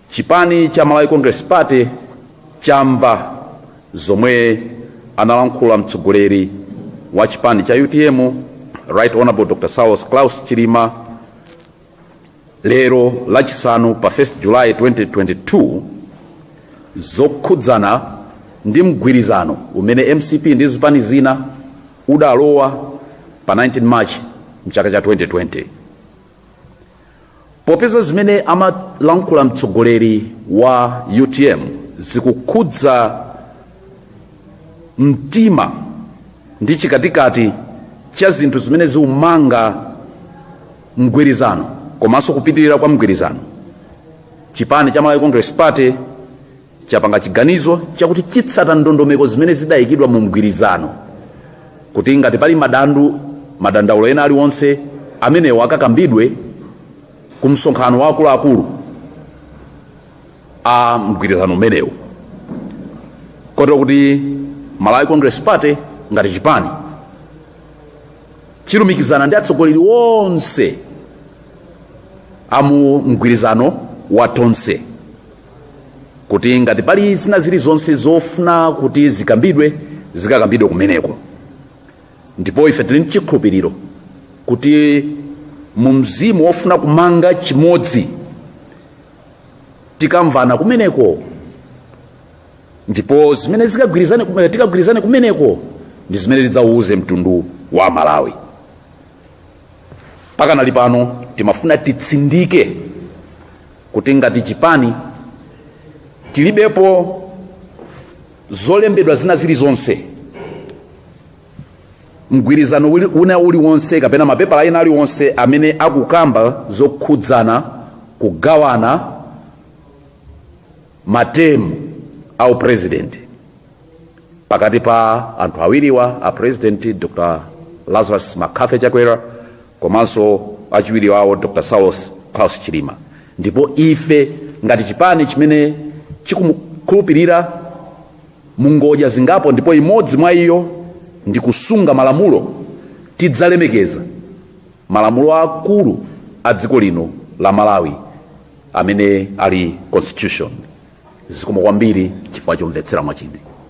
chipani cha malawi congress party chamva zomwe analankhula mtsogoleri wa chipani cha utm right honorable dr saulos klaus chilima lero lachisanu pa 1 july 2022 zokhudzana ndi mgwirizano umene mcp ndi zipani zina udalowa pa 19 march mchaka cha 2020 popeza zimene amalankhula mtsogoleri wa utm zikukhudza mtima ndi chikatikati cha zinthu zimene zikumanga mgwirizano komanso kupitirira kwa mgwirizano chipani cha malawi congress party chapanga chiganizo chakuti chitsata ndondomeko zimene zidayikidwa mu mgwirizano kuti ngati pali madandu madandaulo ena aliwonse amenewo akakambidwe ku msonkhano wa akuluakulu a mgwirizano umenewu kotero kuti Malawi Congress Party ngati chipani chilumikizana ndi atsogoleri onse amu mgwirizano wa tonse kuti ngati pali zina zilizonse zofuna kuti zikambidwe zikakambidwe kumeneko ndipo ife tili ndi chikhulupiriro kuti mu mzimu wofuna kumanga chimodzi tikamvana kumeneko ndipo zimene zikagwirizane kume- tikagwirizane kumeneko ndi zimene tidzauze mtundu wa malawi Pakanali pano timafuna titsindike kuti ngati chipani tilibepo zolembedwa zina zilizonse, mgwirizano wina uliwonse kapena mapepala ena aliwonse amene akukamba zokhudzana kugawana, ma term a u president pakati pa anthu awiriwa a president Dr. Lazarus McCarthy Chakwera komanso achiwiri wawo Dr. Saulos Klaus Chilima ndipo ife ngati chipani chimene chikukhulupirira mu ngodya zingapo ndipo imodzi mwa iyo ndi kusunga malamulo tidzalemekeza malamulo akulu a dziko lino la Malawi amene ali constitution zikomo kwambiri chifukwa chomvetsera mwachidwi.